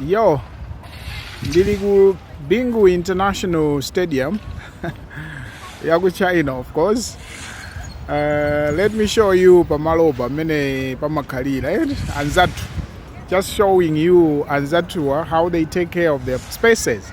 Yo, ndili ku Bingu International Stadium yaku China of course. Uh, let me show you pamalopa mmene pamakhalira eh? anzathu just showing you anzathuwa how they take care of their spaces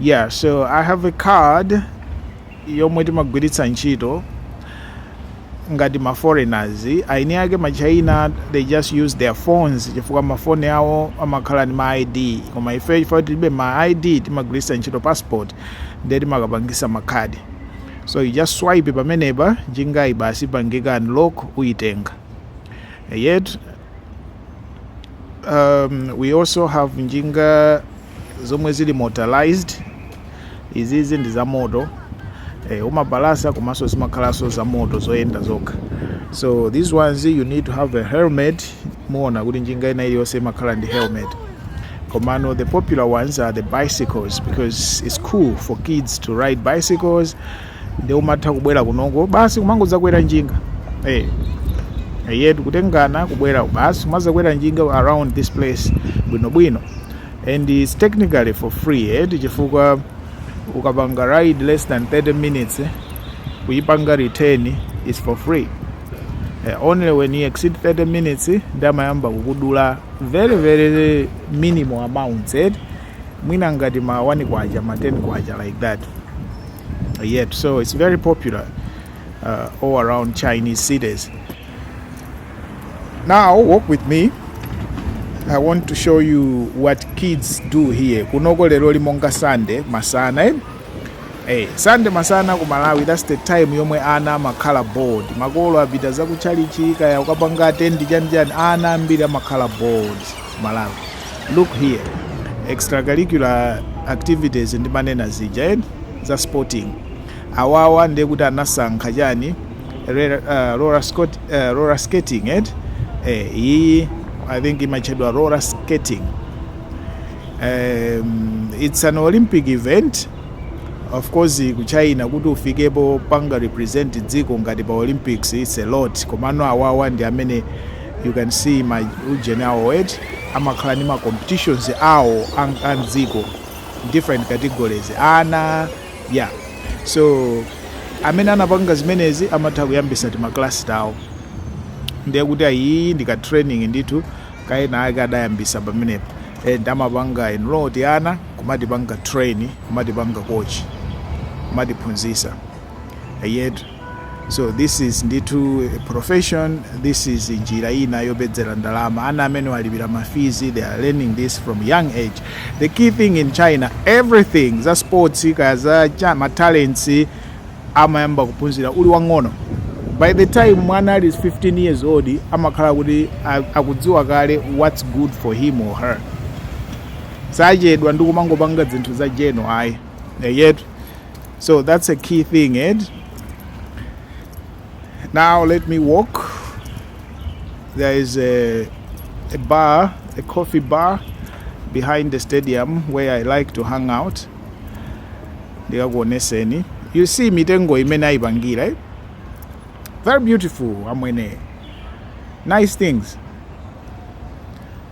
yeah so i have a card yomwe timagwiritsa ntchito ngati ma foreigners eni ake ma china they just use their phones chifukwa mafoni awo amakhala ndi ma id koma ife chifukwa tilibe ma id timagwiritsa ntchito passport ndiye timakapangisa makhadi so you just swipe pamenepa njinga ija basi ipangika unlock uyitenga eyetu um, we also have njinga zomwe zili motorized izizi ndi za moto eh, umapalasa komanso zimakhalanso za moto zoyenda zokha so these ones you need to have a helmet muona kuti njinga ina iliyonse imakhala ndi helmet komano the popular ones are the bicycles because it's cool for kids to ride bicycles nde umatha kubwera kunoko basi kumangodzakwera njinga eh eyetu kutengana kubwera basi kumadzakwera njinga around this place bwinobwino and it's technically for free eti chifukwa ukapanga ride less than 30 minutes eh, kuyipanga return is for free eh, only when you exceed 30 minutes eh, nde amayamba kukudula very very minimal amounts eti mwina ngati ma 1 kwacha ma 10 kwacha like that eyetu. So it's very popular uh, all around Chinese cities. Now, walk with me. I want to show you what kids do here. Kunoko lero ndi monga Sunday masana. Eh? Hey, eh, Sunday masana ku Malawi that's the time yomwe ana amakhala bored. Makolo apita za ku tchalitchi kaya kukapanga attend chani chani ana ambiri amakhala bored. Malawi. Look here. Extracurricular activities ndimanena zija eti? Za sporting. Awawa ndiye kuti anasankha chani? Rela, uh, roller, scot, uh, roller skating eti? Eh, iyiyi I think imatchedwa roller skating. Um, it's an Olympic event of course ku china kuti ufikepo popanga represent dziko ngati pa olympics its a lot komano awawa ndi amene You can see ma ujeni awo eti amakhala ndi ma competitions awo a- a mdziko different categories ana yeah so amene anapanga zimenezi amatha kuyambisa timaklasi tawo ndiye kuti iyiyi ndi ka training ndithu ka enaake adayambisa pamenepo and amapanga enroll tiana kumatipanga train kumatipanga coach kumatiphunzitsa eyetu so this is ndithu a profession this is njira ina yopezera ndalama ana amenewa alipira mafizi they are learning this from young age the key thing in china everything za sports kaya za cha- ma talents amayamba kuphunzira uli wang'ono by the time mwana ali 15 years old amakhala kuti a- akudziwa kale what's good for him or her sachedwa ndi kumangopanga zinthu za jeno ayi yet so that's a key thing ed now let me walk there is a, a bar a coffee bar behind the stadium where i like to hang out ndikakuoneseni you see mitengo imene ayipangira eh? very beautiful amwene nice things